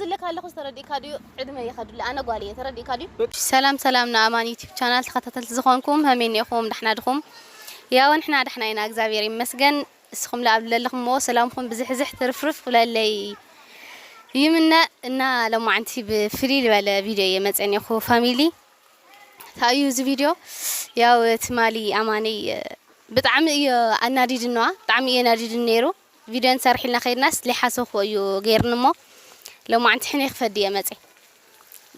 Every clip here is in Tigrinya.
ዝለካ ኣለኩ ዝተረዲእካ ድዩ ዕድመይ ይከድለይ ኣነ ጓል እየ ተረዲእካ ድዩ። ሰላም ሰላም ንኣማን ዩቱብ ቻናል ተከታተልቲ ዝኮንኩም ሀመይ እኒኤኩም ዳሕና ድኩም ያው ንሕና ዳሕና ኢና እግዛብሄር ይመስገን እስኩም ኣብ ለለክሞ ሰላምኩም ብዝሕዝሕ ትርፍርፍ ክብለለይ ይምነ እና ለማዓንቲ ብፍልይ ዝበለ ቪድዮ እየ መፅአ እኒኤኩ ፋሚሊ እንታይ እዩ እዚ ቪድዮ ያው ትማሊ ኣማነይ ብጣዕሚ እዮ ኣናዲድንዋ ብጣዕሚ እዮ ኣናዲድኒ ነይሩ ቪድዮ ንሰርሒልና ከይድናስ ለይሓሰውክዎ እዩ ገይርኒ እሞ ሎማዓንቲ ሕነ ክፈዲ እየ መፅ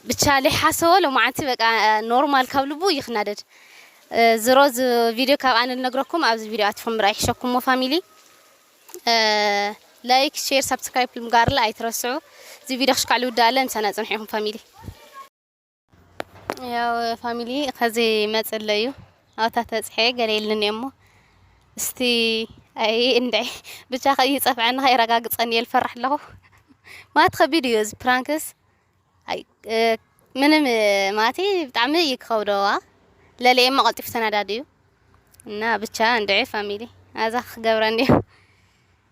ብቻ ለይሓሰዎ ሎማዓንቲ በቃ ኖርማል ካብ ልቡ እዩ ክናደድ ዝሮ ዝ ቪድዮ ካብ ኣነ ልነግረኩም ኣብዚ ቪድዮ ኣትኹም ምርኣይ ይሕሸኩም እሞ ፋሚሊ ላይክ ሼር ሳብስክራይብ ምግባርላ ኣይትረስዑ እዚ ቪድዮ ክሽካዕ ልውዳእ ኣለ ምሳና ፅንሑ ኢኹም ፋሚሊ ያው ፋሚሊ ከዚ መጽለ እዩ ኣብታ ተጽሐ ገለ ኢልኒ እሞ እስቲ ኣይ እንድዒ ብቻ ከይጸፍዐና ከይረጋግጸን እየ ልፈራሕ ኣለኹ ማለት ከቢድ እዩ እዚ ፕራንክስ ኣይ እ፣ ምንም እ፣ ማለት ብጣዕሚ እዩ ክኸብደዋ ለለ እሞ ቀልጢፉ ተናዳዲ እዩ እና ብቻ እንድዒ ፋሚሊ ኣዛ ክገብረን እዩ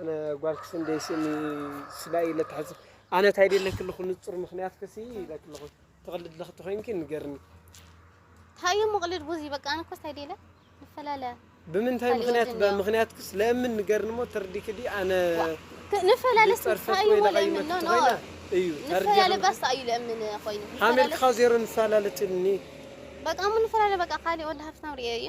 ኣነ ጓል ክስንደይ ስእኒ ስላ ኢለ ትሕዝ ኣነ እንታይ ደለኪ ኣለኹ ንጹር ምኽንያት ክሲ ኢለኪ ኣለኹ ትቕልድ ኣለኺ ተኾይንኪ ንገርኒ ታዩ ምቕልድ ቡዚ በቃ ኣነ ኮስ ታይዴለ ንፈላለ ብምንታይ ምክንያት ምክንያት ክስ ለምን ንገርኒ ሞ ተርዲክ ዲ ኣነ ንፈላለ ታዩ ለምን ኖ እዩ ንፈላለ ባስ ታዩ ለምን ኮይኑ ሃመልካ ዜሮ ንፈላለ ትልኒ በቃ ምን ንፈላለ በቃ ካሊ ወላ ሃፍታም ሪኤ እዩ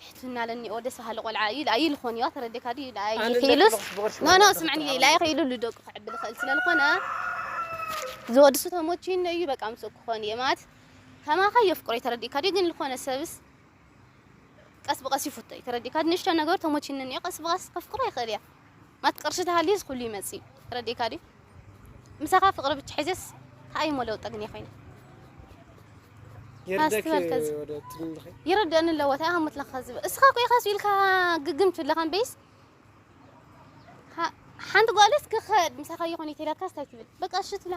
ትሕትና ለኒኦ ደስ በሃሊ ቆልዓ እዩ ልኣይ ኢሉ ኮን እዩ ኣተረዴካ ድዩ ልኣይ ኪኢሉስ ኖ ኖ ስምዕኒ ልኣይ ኪኢሉ ልደቁ ክዕቢ ልክእል ስለ ልኮነ ዝወድሱ ተሞችዩኒ እዩ በቃ ምስኡ ክኮን እየ ማለት ከማካ የፍቅሮ እዩ ተረዲእካ ድዩ ግን ልኮነ ሰብስ ቀስ ብቀስ ይፍቶ እዩ ተረዲእካ ንእሽቶ ነገሩ ተሞችዩኒ እዩ ቀስ ብቀስ ከፍቅሮ ይክእል እያ ማት ቅርሺ ተሃልዩስ ኩሉ ይመጽእዩ ተረዲእካ ድዩ ምሳኻ ፍቅሪ ብቻ ሒዘስ ታይ እዩሞ ለውጢ ግን የኮይነ ይርደኒ ኣለዎ ታይ ሃሙት ለካ ዝብል እስኻ እኮ ኢኻ ኢልካ ግግም ትብለካ እምበይስ ሓንቲ ጓልስ ክኸድ ምሳኻ ይኹን ይተልካስ ታይ ትብል በቃ እሺ ትብላ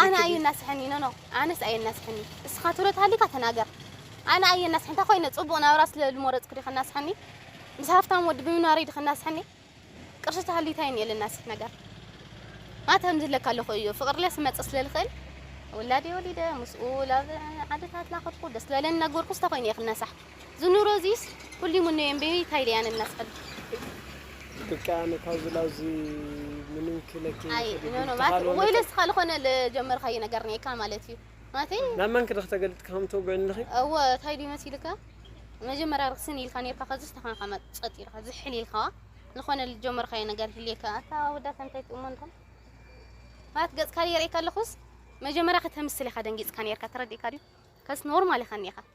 ኣነ ኣየናስሐኒ ኖኖ ኣነስ ኣየናስሐኒ እስኻ ትሮት ሃሊካ ተናገር ኣነ ኣየናስሐኒ እንታይ ኮይነ ፅቡቅ ናብራ ስለ ዝመረፅኩ ዲ ከናስሐኒ ምስ ሃፍታም ወዲ ብምንባረይ ዲ ከናስሐኒ ቅርሺ ተሃልዩ እንታይ እኒኦ ለናስሕ ነገር ማት ከምዚ ለካ ኣለኹ እዩ ፍቅሪ ለስ መፅእ ስለ ዝኽእል ውላደይ ወሊደ ምስኡ ላብ ዓድታት ላኸድኩ ደስ ዝበለኒ ነገርኩ እንታይ ኮይነ እየ ክናሳሕ ዝኑሮ ዚስ ኩሊ ምኑ የንቤቢ ታይ ሊያ ነናስ ኸልቢ ብቃ ኣነ ካብዚ ላብዚ ምንም ክለኪ ኣይ ኖ ኖ ማት ወይ ለስ ኻል ኾነ ለጀመርካዩ ነገር ኔካ ማለት እዩ ማተይ ናብ መን ክድኽ ተገልጥ ከም ተጎን ልኺ እወ ታይ ሊ መሲልካ መጀመርያ ርክስን ኢልካ ኔርካ ከዝስ ተኻንካ መጸጥ ኢልካ ዝሕል ኢልካዋ ዝኾነ ልጀመርካዩ ነገር ህልየካ ኣታ ወዳ ከንታይ ትእሞ እንታ ማት ገጽካ የርእካ ኣለኹስ መጀመርያ ከተምስል ኢኻ ደንጊጽካ ኔርካ ተረዲእካ ድዩ ከስ ኖርማል ኢኻ ኔኻ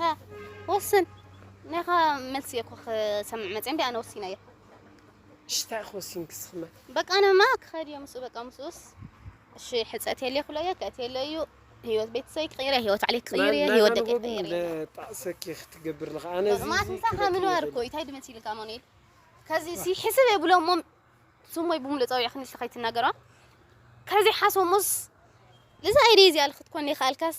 ሃ ወስን ናይኻ መልሲ እየ እኮ ክሰምዕ መፅየ እምቢ ኣነ ወሲነ እየ እሺ እንታይ ኢኺ ወሲንኪ ስኽመ በቃ ኣነማ ክኸድ እየ ምስኡ በቃ ምስኡስ እሺ ሕፀት የለ ክብሎ እየ ክእት የለ እዩ ህይወት ቤተሰበይ ክቕይር እየ ህይወት ባዕለይ ክቕይር እየ ህይወት ደቂ ክቕይር እየ ጣዕሰኪ ክትገብር ለኻ ኣነ እዚ ማለት ምሳኻ ምንባር እኮ እዩ ታይ ድመሲልካ ኣማኑኤል ከዚ ሲ ሕስብ የብሎ እሞ ስሞይ ብምሉእ ፀዊዕኺ ንስኺ ከይትናገራ ከዚ ሓሶሙስ እዚ ኣይዲ እዚኣ ክትኮን ይኸኣልካስ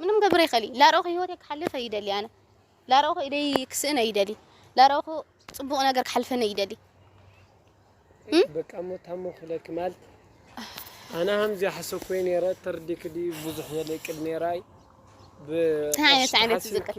ምንም ክገብር ኣይክእልይ ላርኦኹ ሂወተይ ክሓልፍ ኣይደልይ ኣነ ላርኦኹ ኢደይ ክስእን ኣይደልይ ላርኦኹ ጽቡቕ ነገር ክሓልፈኒ ኣይደልይ በቃ ሞታሞ ክለኪ ማለት ኣነ ሃምዚ ሓሰኮይ ነረ ተርዲክ ዲ ብዙሕ የለቅድ ነራይ ብዓይነት ዓይነት ዝቅድ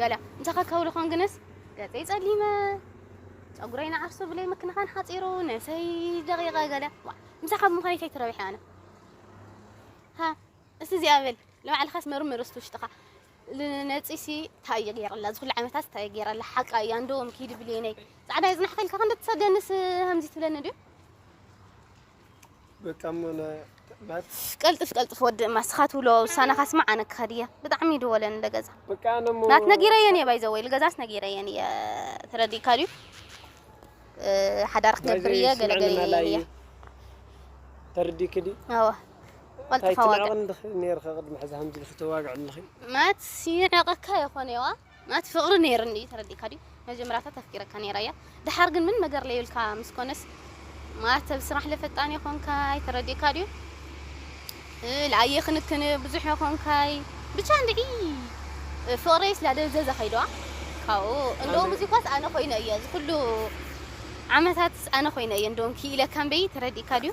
ገለ እንተኸ ከብል ኾን ግንስ ገፀይ ፀሊመ ፀጉረይ ንዓርሱ ብለይ ምክንኻን ሓፂሩ ነሰይ ደቂቐ ገለ ምሳኻ ብምዃነይ እንታይ ትረብሐ ኣነ ሃ እስቲ እዚኣ በል ንባዕልኻስ መርምር እስቲ ውሽጥኻ ንነፂሲ እንታይ እየ ገይረላ እዚ ኩሉ ዓመታት እንታይ እየ ገይረላ ሓቃ እያ እንዶ ኪድ ብልየነይ ፃዕዳ የፅናሕከልካ ክንዲ ትሰደንስ ከምዚ ትብለኒ ድዩ ቀልጥፍ ቀልጥፍ ወዲ እማ እስኻ ትብሎ ውሳነኻ ስማዕ ኣነ ክኸድ እየ ብጣዕሚ ይድወለን ንደገዛ ናት ነጊረየን እየ ባይዘወይ ልገዛስ ነጊረየን እየ ተረዲእካ ድዩ ሓዳር ክገብር እየ ገለገለ እየን እየ ተረዲእኪ ድዩ ኣዎ ቀልጥፋ ዋጋ ማለት ይዕቐካ የኾነዋ ናቲ ፍቅሪ ነይርኒ እዩ ተረዲእካ ድዩ መጀመራታ ተፍቂረካ ነይራ እያ ደሓር ግን ምን መገር ለዩልካ ምስ ኮነስ ማተብ ስራሕ ለፈጣን የኮንካይ ተረዲእካ ድዩ ለኣየ ክንክን ብዙሕ የኮንካይ ብቻ እንድዒ ፍቅረይስ ላደብዘዘ ከይድዋ ካብኡ እንደውም እዚ ኳስ ኣነ ኮይነ እየ ዝኩሉ ዓመታትስ ኣነ ኮይነ እየ እንደውም ክኢለካ እምበይ ተረዲእካ ድዩ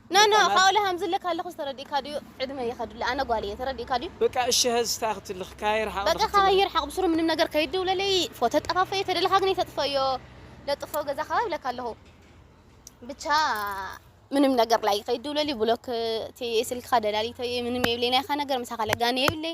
ኖ ኖ ካኦሊ ሃምዝለ ካለኩስ ተረዲእካ ድዩ ዕድመይ ይከድለ ኣነ ጓል እየ ተረዲእካ ድዩ። በቃ እሺ ሀዚ ታይ ክትልክ ካየ ርሓቅ ዶ ክትብል። በቃ ካባይ ይርሓቅ ብስሩ ምንም ነገር ከይትድውለለይ ፎቶ ጠፋፍኤ ተደለካ ግን ይተጥፈዮ ለጥፎ ገዛ ካባይ ይብለካ ኣለኩ ብቻ ምንም ነገር ላይ ከይትድውለለይ ብሎክ እትየ ስልክካ ደላሊተዮ ምንም የብለይ ናይካ ነገር ምሳካ ለጋኒ የብለይ።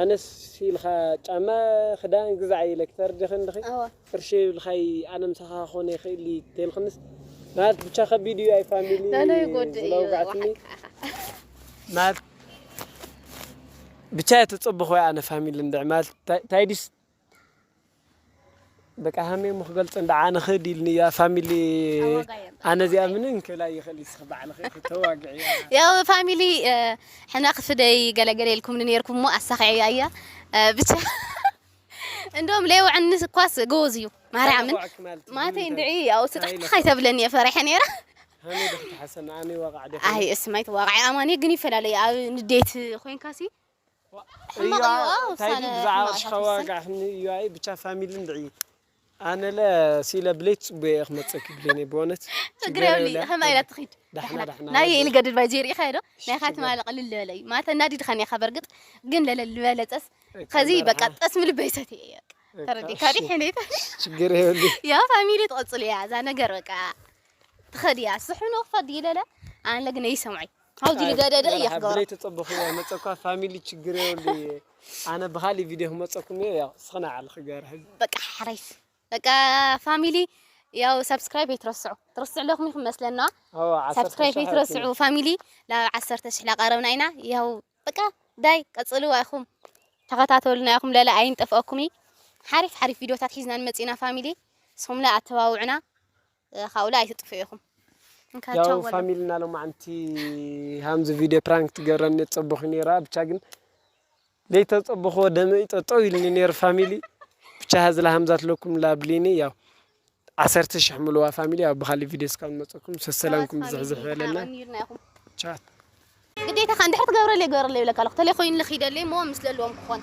ኣነስ ኢልካ ጫማ ክዳን ግዛዓይ ኢለኪ ተረዲኺ እንድኺ ቅርሺ የብልካይ ኣነ ምሳኻ ክኾን ኣይክእል እዪ ተይልክንስ ማለት ብቻ ከቢድ እዩ ኣይ ፋሚሊ ዝለውጋዕትኒ ማለት ብቻ እየ ተፀበኹ ኣነ ፋሚሊ እንድዒ ማለት ታይ ድዩስ በቃ ሃመይ እሞ ክገልጾ እንዳዓ ንኽድ ኢልኒ እያ ፋሚሊ ኣነ እዚኣ ምንም ክብል ኣይኽእል ንስኺ ባዕልኺ ክተዋግዕያ ያው ፋሚሊ ሕና ክፍደይ ገለገለ ኢልኩምኒ ነይርኩም እሞ ኣሳኺዐያ እያ ብቻ እንደውም ለየውዕኒ እኳስ ጎበዝ እዩ ማርያምን ዋዕዋዕክ ማለት እዩ። ማተይ እንድዒ ያው ስጥሕጥሕ ኣይተብለኒ እየ ፈሪሐ ነይረ ሃመይ ዶ ክትሓሰና ኣነ ዋቃዕ ዶ ኣይ እስማይ ተዋቃዒ ኣማኒ ግን ይፈላለ እዩ ኣብ ንዴት ኮይንካሲ ሕማቕ እዩ ዋ ውሳነ ሕማቕ ኢኻ ትውስን ብቻ ፋሚሊ እንድዒ ኣነለ ሲኢለ ብለይቲ ፅቡየ እየ ክመፀኪ ብሌነይ ብእውነት ችግር የብልይ ከመይ ኢላ ትኺድ ዳሕና ናይ ኢሊ ገድድ ባይ ዘይ ርኢኻዮ ዶ ናይኻ ትማሊ ቅልል ዝበለ እዩ ማለት ኣናዲድኻኒ ኢኻ በርግጥ ግን ለለል ዝበለፀስ ከዚ በቃ ጠስሚ ልበይ ሰትየ እየ ተረዲእካ ዲ ሕነይ ችግር የብልይ ያ ፋሚሊ ትቕፅል እያ እዛ ነገር በቃ ትኸድ እያ ስሕኑ ክፈዲ ይለለ ኣነ ግን እይሰምዖ እዩ ኣብዙ ልገደደ እየ ክገብሮ ብለይ ተጸበኹ መጸ እኳ ፋሚሊ ችግር የብሉ እየ ኣነ ብኻሊ ቪድዮ ክመጸኩም እየ ያው ስኽና ዓል ክገር ሕዚ በቃ ሓረይስ በቃ ፋሚሊ ያው ሰብስክራይብ ይትረስዑ ትረስዑ ኣለኹም ይኹም መስለና ሰብስክራይብ ይትረስዑ ፋሚሊ ናብ ዓሰርተ ሽሕ ላቀረብና ኢና ያው በቃ ዳይ ቀጽሉ ኣይኹም ተኸታተሉና ይኹም ለለ ኣይንጠፍኦኩም ሓሪፍ ሓሪፍ ቪድዮታት ሒዝና ንመጽና ፋሚሊ ንስኹም ላ ኣተባውዕና ካብኡለ ኣይትጥፍኡ ኢኹም እንካ ቻው ያው በሎም። ፋሚልና ሎማዓንቲ ሃምዚ ቪድዮ ፕራንክ ትገብረኒ ጸቡኪ ነይራ ብቻ ግን ዘይተጸበክዎ ደመይ ጠጠው ኢልኒ ነይሩ ፋሚሊ ብቻ ሃዝላ ሃምዛት ለኩም ላብሊኒ ያው ዓሰርተ ሽሕ ምልዋ ፋሚሊ ያው ብካሊ ቪድዮ እስካብ ንመጸኩም ሰሰላምኩም ቻዋት ብዝሕዝሕ ፋሚሊ ይበለና ሓቐኒርና ኢኹም ቻት ግዴታኻ እንድሕር ትገብረለይ ግበረለይ ይብለካ ኣለኹ ተለይ ኮይኑለ ክይደለይ እሞ ምስለልዎም ክኾን